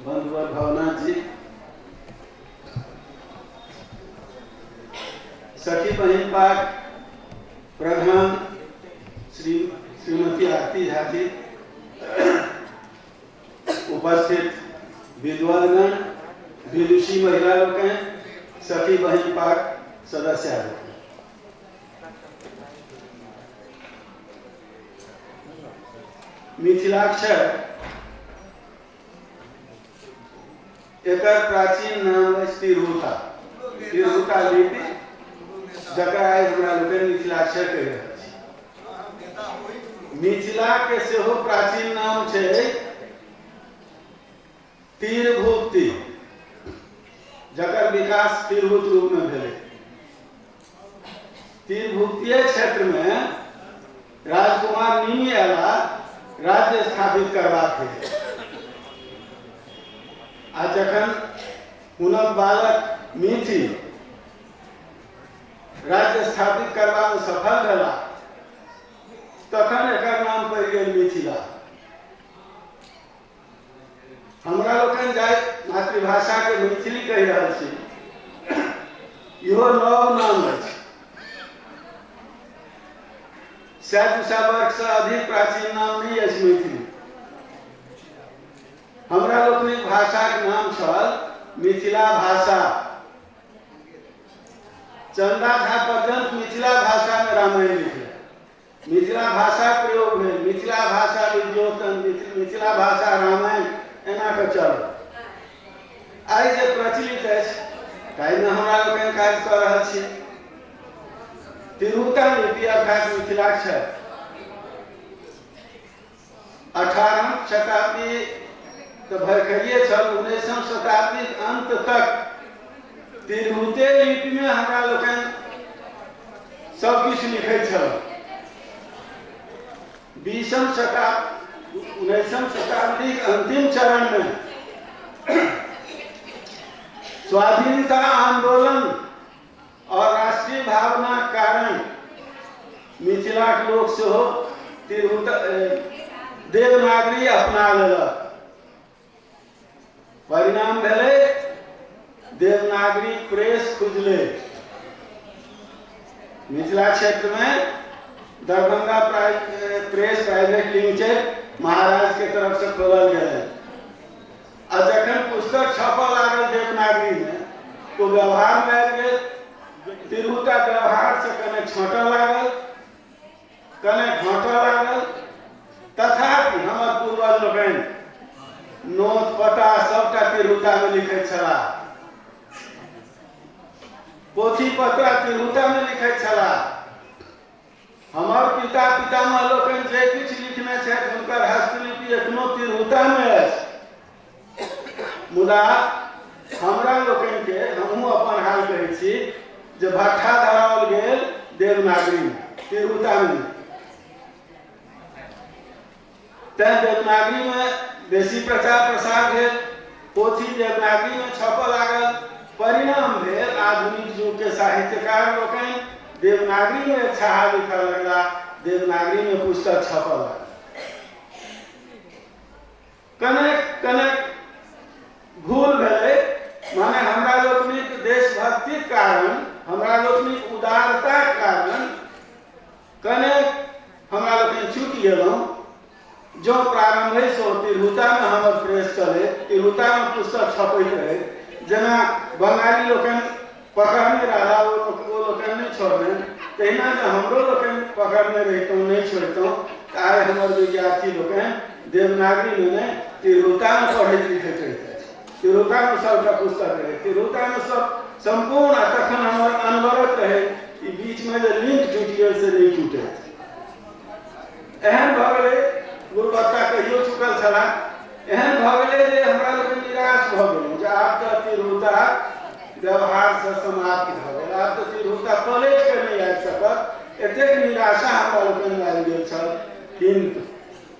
बंधुवर भावना जी सखी बहन पाक प्रधान श्री श्रीमती आरती झा जी उपस्थित विद्वानगण विदुषी महिला लोग हैं सखी बहन पाक सदस्य हैं मिथिलाक्षर एकर प्राचीन नाम अछि तिरहुता तिरहुता लिपि जकरा आइ हमरा लोकनि मिथिलाक्षर कहि रहल छी मिथिलाके सेहो प्राचीन नाम छै तिरभुक्ति जकर विकास तिरहुत रूपमे भेलै तिरभुक्तीय क्षेत्र में राजकुमार निमि अला राज्य स्थापित करबाक हेतु आ जखन हुनक बालक मीति राज्य स्थापित करवा में सफल भेला तखन एकर नाम पड़ि गेल मिथिला हमरा लोकनि जाय मातृभाषाके मैथिली कहि रहल छी इहो नव नाम अछि सए दू सए वर्षसँ अधिक प्राचीन नाम नहि अछि मैथिली हमरा लोकनि भाषाक नाम छल मिथिला भाषा चंदा झा पर्यंत मिथिला भाषा में रामायण लिखल मिथिला भाषाक प्रयोग भेल मिथिला भाषा विद्योतन मिथिला भाषा रामायण एना कऽ चल आइ जे प्रचलित अछि ताहिमे हमरा लोकनि काज कऽ रहल छी तिरहुतन लिपि अर्थात मिथिलाक्षर अठारहम शताब्दी तऽ भरखरिए छल उन्नैसम शताब्दी अन्त तक तिरहुते लिपिमे हमरा लोकनि सब किछु लिखै छल बीसम शताब्दी उन्नैसम शताब्दी अंतिम चरण में स्वाधीनता आंदोलन आओर राष्ट्रीय भावनाक कारण मिथिलाक लोक सेहो तिरहुत देवनागरी अपना लेलक परिणाम भेलै देवनागरी प्रेस खुजलै मिथिला क्षेत्रमे दरभंगा प्रेस प्राइवेट लिमिटेड महाराजके तरफसँ खोलल गेलै आ जखन पुस्तक छपऽ लागल देवनागरीमे तो व्यवहारमे आबि गेल तिरहुता व्यवहारसँ कने छँटऽ लागल कने घटऽ लागल तथापि हमर पूर्वज लोकनि नोत पता सभटा तिरहुतामे लिखैत छलाह पोथी पत्रा तिरहुतामे लिखैत छलाह हमर पिता पितामह लोकनि जे किछु लिखने छथि हुनकर हस्तलिपि एखनो तिरहुतामे अछि मुदा हमरा लोकनिके हमहूँ अपन हाल कहै छी जे भट्ठा धराओल गेल देवनागरीमे तिरहुतामे तैँ देवनागरीमे बेसी प्रचार प्रसार भेल पोथी देवनागरीमे छपऽ लागल परिणाम भेल आधुनिक युगके साहित्यकार लोकनि देवनागरीमे एक छाहा लिखऽ लगला देवनागरीमे पुस्तक छपऽ लागल कनेक कनेक भूल भेलै माने हमरा लोकनिक देशभक्तिक कारण हमरा लोकनिक उदारताक कारण कने हमरा लोकनि चुकि गेलहुँ जँ प्रारम्भेसँ तिरहुतामे हमर प्रेस चलै तिरहुतामे पुस्तक छपैत रहै जेना बंगाली लोकनि पकड़ने राधा ओ ओ लोकनि नहि छोड़ने तहिना जे हमरो लोकनि पकड़ने रहितहुँ नहि छोड़ितहुँ तऽ आइ हमर विद्यार्थी लोकनि देवनागरीमे नहि तिरहुतामे पढ़ैत लिखैत रहितथि तिरोतानुसव का पुस्तक रहे तिरोतानुसव संपूर्ण आ तखन हमर अनवरत रहे ई बीच में जे लिंक टूटि गेल से नहीं टूटे एहन भऽ गेलै गुरुबत्ता कहियो चुकल छलाह एहन भऽ गेलै जे हमरा लोकनि निराश भऽ गेलहुँ जे आब तऽ तिरोता व्यवहारसँ समाप्त भऽ गेल आब तऽ तिरोता पलटि कऽ नहि आबि सकत एतेक निराशा हमरा लोकनि आबि गेल छल किन्तु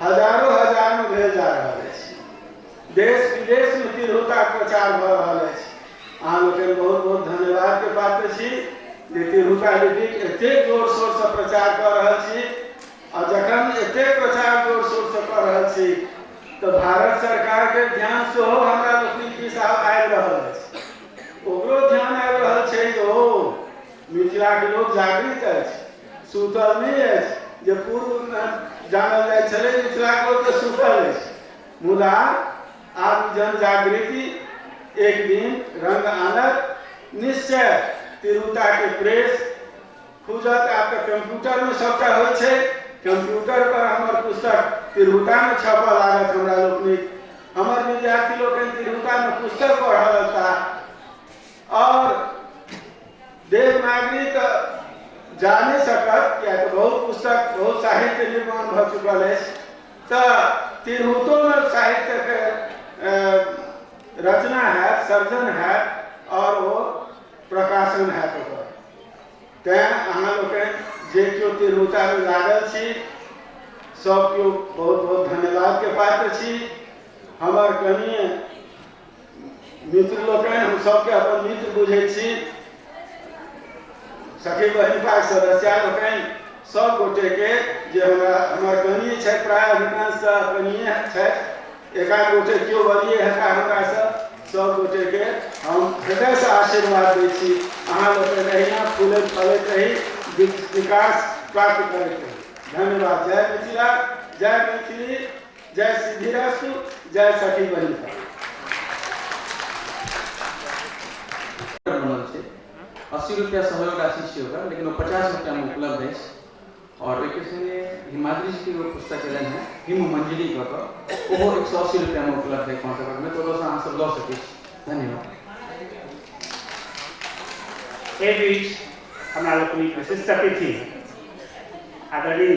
हजारो हजार मे भेल जा रहल अछि। देश विदेश मे तिरहुताक प्रचार भ रहल अछि। अहाँ लोकनि बहुत बहुत धन्यवाद के पात्र छी जे तिरहुता लिपिक एतेक जोर शोर सँ प्रचार क रहल छी आ जखन एतेक प्रचार जोर शोर सँ क रहल छी त भारत सरकार के ध्यान सेहो हमरा लोकनिक दिस आब आबि रहल अछि। ओकरो ध्यान आबि रहल छैक जे ओ मिथिलाक लोक जागृत अछि। सूतल नहि अछि जे पूर्वमे जानल जाइ छलै मिथिलाके लोक तऽ सूतल अछि मुदा आब जन जागृति एक दिन रंग आनत निश्चय तिरुताके प्रेस खुजत आब तऽ कम्प्यूटरमे सभटा होइ छै कम्प्यूटर पर हमर पुस्तक तिरुतामे छपऽ लागत हमरा लोकनिक हमर विद्यार्थी लोकनि तिरुतामे पुस्तक पढ़ऽ लगता और देवनागरी तो जाने सकत किया तो बहुत पुस्तक बहुत साहित्य निर्माण भ चुकल है तो तिरहुतो में साहित्य के रचना है सर्जन है और वो प्रकाशन है तो तैं अहाँ लोग जे केओ तिरहुता में लागल छी सब केओ बहुत बहुत धन्यवाद के पात्र छी हमर कनिए मित्र लोकनि हम सबके अपन मित्र बुझै छी सखी बहिन भाग सदस्य लोकनि सब गोटे के जे हमरा हमर कनिए छथि प्राय अधिकांश तऽ कनिए छथि एकाध गोटे केओ बलिए हेता हमरा सब सब गोटे के हम हृदय से आशीर्वाद दै छी अहाँ लोकनि अहिना फूलैत फलैत रही विकास प्राप्त करैत रही धन्यवाद जय मिथिला जय मैथिली जय सिद्धिरास्तु जय सखी बनी बनल छै अस्सी रुपया सहयोग राशि छै ओकरा लेकिन ओ पचास रुपया में उपलब्ध है और एक संगे हिमाद्री जी के एगो पुस्तक एलन है हिम मंजरी कऽ कऽ ओहो एक सौ अस्सी रुपया में उपलब्ध है पाँच हजार में तो ओतऽसँ अहाँ सब लऽ सकै छी धन्यवाद एहि बीच हमरा लोकनिक विशिष्ट अतिथि आदरणीय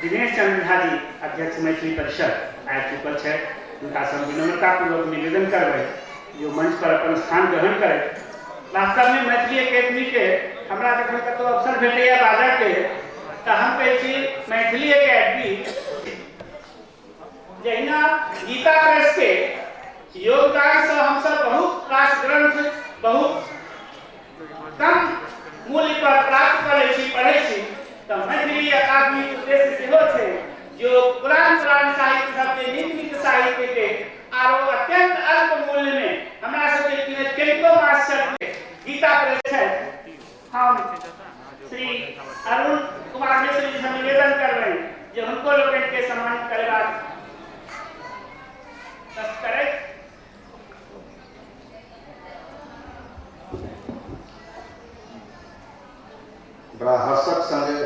दिनेश चंद्र झा जी अध्यक्ष मैथिली परिषद आबि चुकल छथि हुनका से हम विनम्रतापूर्वक निवेदन करबै जे ओ मंच पर अपन स्थान ग्रहण करथि वास्तव में मैथिली एकेडमी के हमरा जखन कतौ अवसर भेटैया बाजऽ के तऽ हम कहै छी मैथिली एकेडमी जहिना गीता प्रेस के योगदान से हम सब बहुत रास ग्रंथ बहुत कम मूल्य पर प्राप्त करे छी पढ़े छी तो मैथिली अकादमी के उद्देश्य सेहो छै जो पुरान पुरान साहित्य सब के नित नित साहित्य के आरो अत्यंत अल्प मूल्य में हमरा सब के किने कनिको मास से गीता प्रेस छै हम श्री अरुण कुमार मिश्र जी से निवेदन करबे जे हुनको लोकनि के सम्मानित करेबाक करे बड़ा हर्षक संगे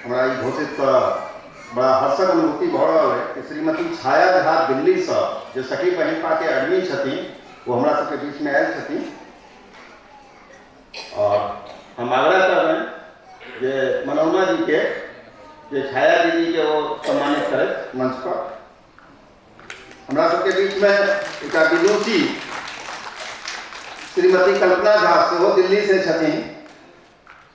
हमरा ई घोषित करऽ बड़ा हर्षक अनुभूति भऽ रहल है कि श्रीमती छाया झा दिल्लीसँ जे सखी पहिलका के एडमिन छथिन ओ हमरा सबके बीचमे आयल छथिन और हम आग्रह करबनि जे मनोरमा जी के जे छाया दीदी के वो सम्मानित करे मंच पर हमरा सबके बीच में एक विदुषी श्रीमती कल्पना झा सेहो दिल्ली से छथिन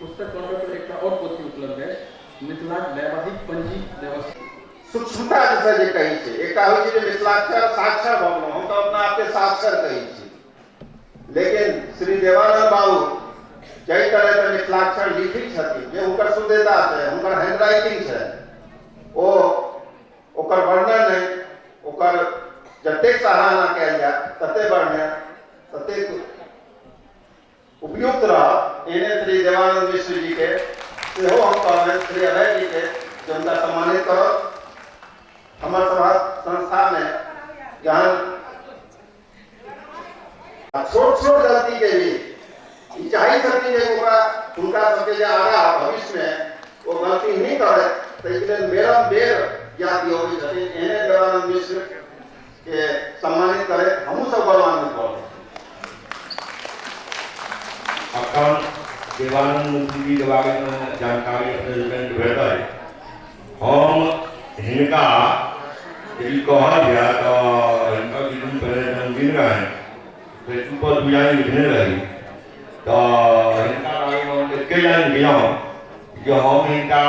पुस्तक बनबै पर एकटा और पोथी उपलब्ध है मिथिला वैवाहिक पंजी व्यवस्था सूक्ष्मता जैसे जे कहै छै एकटा होइ छै जे मिथिलाक्षर साक्षर भऽ गेलहुँ हम तऽ अपना आपके साक्षर कहै छी लेकिन श्री देवानंद बाबू जाहि तरह के मिथिलाक्षर लिखै छथिन जे हुनकर शुद्धता छै हुनकर हैंडराइटिंग छै ओ ओकर वर्णन नहि ओकर जतेक सराहना कयल जाय ततेक वर्णन ततेक उपयुक्त रहत। एहने श्री देवानंद मिश्र जी के सेहो हम कहबैन श्री अभय जी के जे हुनका सम्मानित करौथ। हमर सभहक संस्था मे जहन। आ छोट छोट गलती के भी ई चाहै छथिन जे ओकरा हुनका सब के जे आगा भविष्य मे ओ गलती नहि करैथ तै के लेल बेरम बेर याद दियौबै छथिन। एहने देवानंद मिश्र। के सम्मानित करे हमहू सब गौरवान्वित भऽ गेल। अखन देवानंद मुंशी जी के बारे में जानकारी अपने लोकनि के भेटल हम हिनका यदि कहल जाय तऽ हिनका किछु दिन पहिले जन्मदिन रहनि से सुपर बुझाइ लिखने रही तऽ हिनका बारे में हम एते लाइन गेलहुँ जे हम हिनका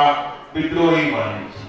विद्रोही मानै छी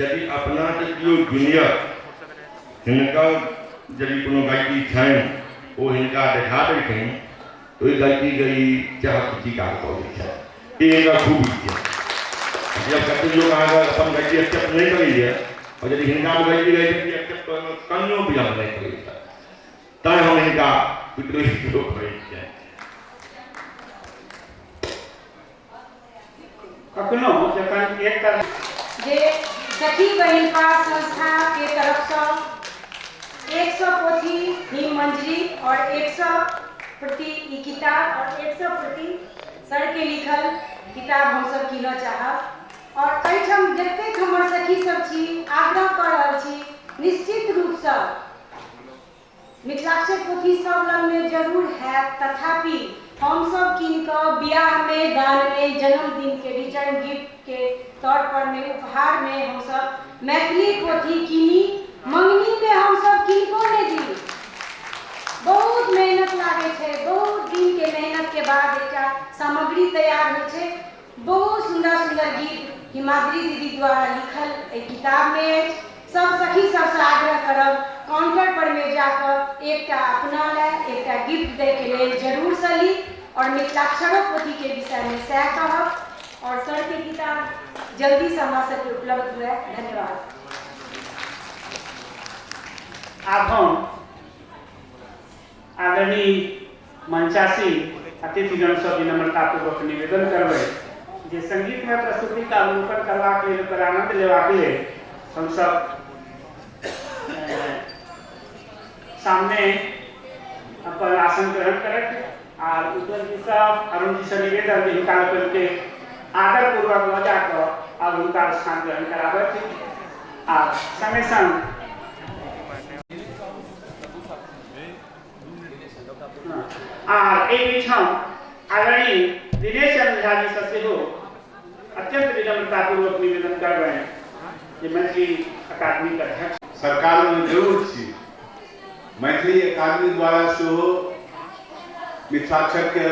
यदि अपना के कियो गिनियत हिनका यदि कोनो गलती छनि ओ हिनका देखा देलखिन तऽ ओहि गलतीके ई चाहत स्वीकार कऽ लै छथि ई हिनकर खूबी छै जब कतेक लोक अहाँके अपन गलती एक्सेप्ट नहि करैए आओर यदि हिनकामे गलती रहै छै एक्सेप्ट करैमे कनियो विलम्ब नहि करै छथि तैँ हम हिनका विद्रोही लोक कहै छियनि कखनो जखन एक तरह जे सखी बहिन पास संस्था के तरफ से एक सौ पोथी ही मंजरी और एक सौ प्रति ई किताब और एक सौ प्रति सर के लिखल किताब हम सब कीनऽ चाहब और एहिठाम जतेक हमर सखी सब छी आग्रह कऽ रहल छी निश्चित रूप से मिथिलाक्षर पोथी सभ लगमे जरूर हएत तथापि हम सभ कीनि कऽ बिआहमे, दानमे, जनमदिनके रिटर्न गिफ्टके तौरपरमे, उपहारमे हम सभ मैथिली पोथी कीनि मँगनीमे हम सभ किनको नहि दी। बहुत मेहनत लागै छै। बहुत दिनके मेहनतके बाद एकटा सामग्री तैयार होइ छै। बहुत सुन्दर सुन्दर गीत हिमाद्री दीदी द्वारा लिखल एहि किताबमे अछि सभ सखी सभसँ आग्रह करब काउंटर पर मे जाकऽ एकटा अपना लए एकटा गिफ्ट दैके लेल जरूर सँ ली आओर मिथिलाक्षरो पोथीके विषयमे सएह कहब आओर सरके किताब जल्दीसँ हमरा सभके उपलब्ध हुए धन्यवाद आब हम आदरणीय मंचासीन अतिथिगण सँ विनम्रतापूर्वक निवेदन करबैन जे संगीतमय प्रस्तुतिक अवलोकन करबाक लेल ओकर आनन्द लेबाक लेल हम सब सामने अपन आसन ग्रहण करथि आ उज्जवल जी सँ अरुण जी सँ निवेदन जे हिनका लोकनि के आदरपूर्वक लऽ जा कऽ आब हुनका स्थान ग्रहण कराबथि आ संगे संग आ एहि बीचम आदरणीय दिनेश चंद्र झा जी से सेहो अत्यंत विनम्रतापूर्वक निवेदन करबनि जे मैथिली अकादमी के अध्यक्ष सरकार में जरूर छी मैथिली अकादमी द्वारा सेहो मिथिलाक्षर के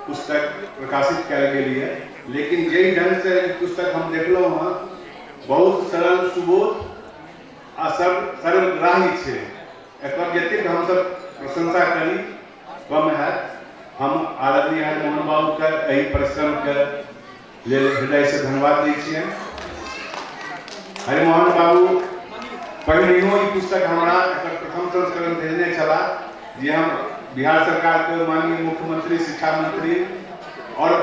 पुस्तक प्रकाशित कयल गेल यऽ लेकिन जाहि ढंग से ई पुस्तक हम देखलहुँ हँ बहुत सरल सुबोध आ सर्व सर्वग्राही छै एकर जतेक हमसभ प्रशंसा करी कम हैत हम आदरणीय मोहन बाबूके एहि परिश्रमके लेल हृदयसँ धन्यवाद दै छियनि हरिमोहन बाबू पहिनहियो ई पुस्तक हमरा एकर प्रथम संस्करण भेजने छलाह जे हम बिहार सरकारके माननीय मुख्यमंत्री शिक्षा मंत्री आओर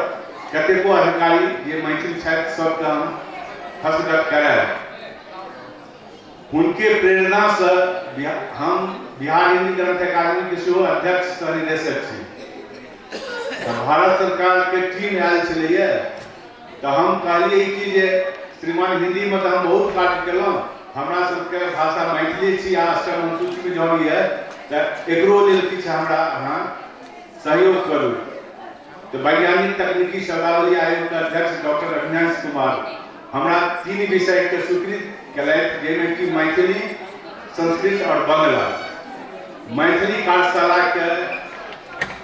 कतेको अधिकारी जे मैथिल छथि सभके हम हस्तगत करायब हुनके प्रेरणा स हम बिहार हिंदी ग्रंथ अकादमी के सेहो अध्यक्ष सह निदेशक छी भारत सरकार के टीम आयल छे तो हम कहलिए कि जे श्रीमान हिंदी में तो हम बहुत कार्य कलौं हमरा सबके भाषा मैथिली छी आ अष्टम अनुसूची में जब ये तो एकरो लेल किछ हमरा अहाँ सहयोग करू त वैज्ञानिक तकनीकी शब्दावली आयोग क अध्यक्ष डॉक्टर रघुनैंस कुमार हमरा तीन विषय क स्वीकृत केलैथ जै मे कि मैथिली, संस्कृत और बंगला। मैथिली पाठशाला क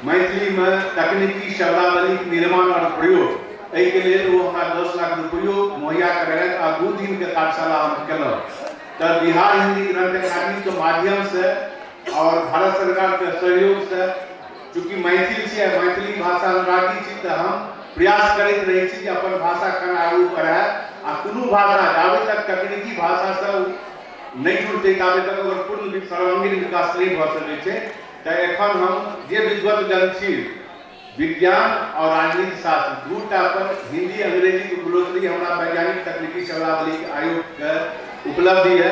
मैथिली मे तकनीकी शब्दावली क निर्माण और प्रयोग ऐ क लेल ओ हमरा दस लाख रुपैयो मुहैया करेलैथ आ दू दिन क कार्यशाला हम केलौं त बिहार हिन्दी ग्रंथ अकादमी क माध्यम स और भारत सरकार क सहयोग स चूँकि मैथिल छी आ मैथिली भाषा अनुरागी छी तँ हम प्रयास करैत रहैत छी जे अपन भाषा केना आगू बढ़य आ कोनो भाषा जाबे तक तकनीकी भाषासँ ओ नहि जुड़तै ताबे तक ओकर पूर्ण वि- सर्वांगीण विकास नहि भऽ सकैत छै तँ एखन हम जे विद्वत जन छी विज्ञान आओर राजनीति शास्त्र दू टा पर हिंदी अंग्रेजीक उपरोत्तरी हमरा वैज्ञानिक तकनीकी शब्दावलीक आयोगके उपलब्धि यए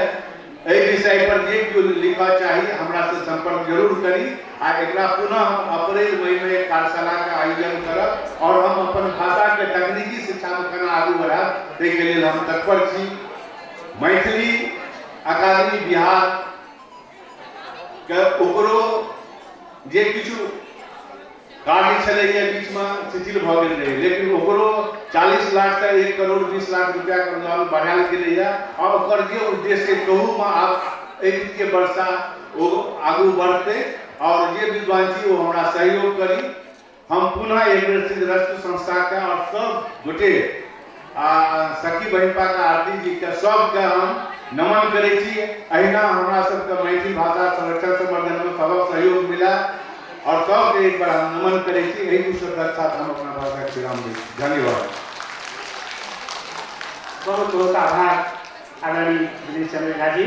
एहि विषय पर जे केओ लिखऽ चाही हमरा से संपर्क जरूर करी आ एकरा पुनः हम अप्रैल मई में एक कार्यशाला के आयोजन करब और हम अपन भाषा के तकनीकी शिक्षा में केना आगू बढ़ाब ताहि के लेल हम तत्पर छी मैथिली अकादमी बिहार के ओकरो जे किछु काज छलै जे बीचमे शिथिल भऽ गेल रहै लेकिन ओकरो चालीस लाखसँ एक करोड़ बीस लाख रुपैआके अनुदान बढ़ायल गेलैए आ ओकर जे उद्देश्य कहूमे आब एहि वित्तीय वर्षा ओ आगू बढ़तै आओर जे विद्वान छी ओ हमरा सहयोग करी हम पुनः एक बेर सिद्धरस्तु संस्थाके आओर सभ गोटे आ सखी बहिनपाक आरती जी के सब के हम नमन करै छी अहिना हमरा सब के मैथिली भाषा संरक्षण संवर्धन में सबक सहयोग मिला और सब के एक बार हम नमन करै छी एहि दू शब्द के साथ हम अपना भाषा के विराम दै छी धन्यवाद बहुत बहुत आभार आदरणीय दिनेश चंद्र झा जी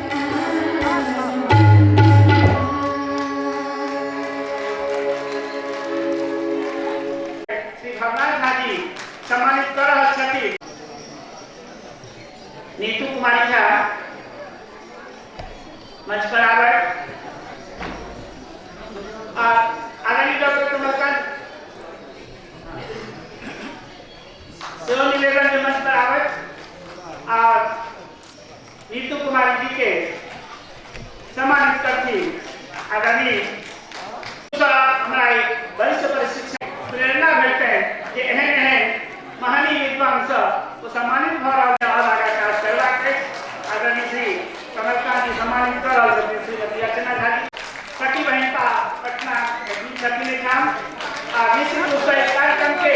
श्री भगवान झा जी सम्मानित कर रहल छथि नीतू कुमारी झा मंच पर आवे आ आदरणीय डॉक्टर कमलकांत सेहो निवेदन के मंच पर आवे आ नीतू कुमारी जी के सम्मानित करती आगामी हमरा वरिष्ठ प्रशिक्षण प्रेरणा भेटते जे एहन एहन महानी विद्वान सब ओ सम्मानित भऽ रहल छै आओर आगाँ काज करबाक अछि आदरणीय श्री कमलकांत जी सम्मानित कऽ रहल छथिन श्रीमती अर्चना झा जी सखी बहिनता पटना छथिन एहिठाम आ विश्व कार्यक्रम के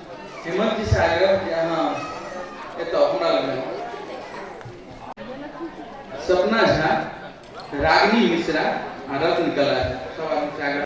हेमंत जी से आग्रह कि अहाँ एतऽ हमरा लग सपना झा रागिनी मिश्रा आ रत्न कला सब आदमी से आग्रह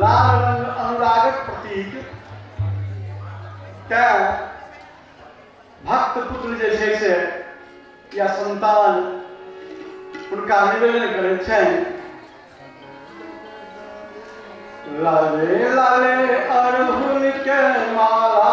लाल रंग अनुरागक प्रतीक तैं भक्त पुत्र जे छै से या संतान हुनका निवेदन करै छनि लाले लाले अरहुल के माला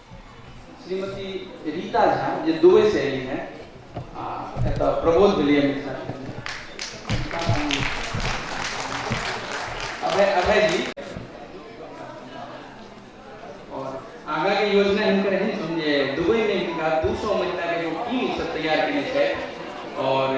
श्रीमती रीता झा जे दुबई से एली हैं आ एतऽ प्रबोध भेलियै मिथिला अभय अभय जी और आगा के योजना हिनकर एहन छनि जे दुबई में हिनका दू सौ महिला के एगो टीम सब तैयार केने छै और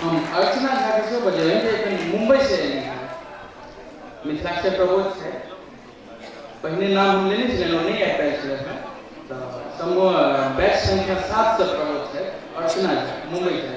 हम अर्चना झा जी से बजलियनि जे एखन मुम्बई से एलियनि हैं मिथिला से प्रबोध छै पहिने नाम हम लेने छलियनि नहि आबि पायल छलै हैं तऽ समूह बैच संख्या सात से प्रबोध छै अर्चना झा मुम्बई से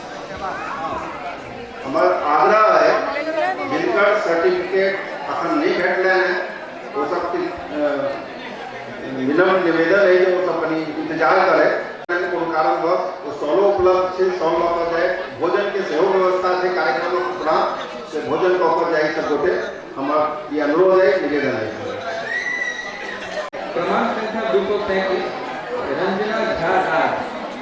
हमर आग्रह है जिनकर सर्टिफिकेट अखन नहीं भेटले हैं वो सब विनम्र निवेदन है वो सब कनी इंतजार करे कोनो कारण बस वो सौलो उपलब्ध से सौल लऽ कऽ जाए भोजन के सेहो व्यवस्था से कार्यक्रम पूरा से भोजन कऽ कऽ जाए सब गोटे हमर ई अनुरोध है निवेदन है प्रमाण संख्या दू सौ तैंतीस रंजना झा राज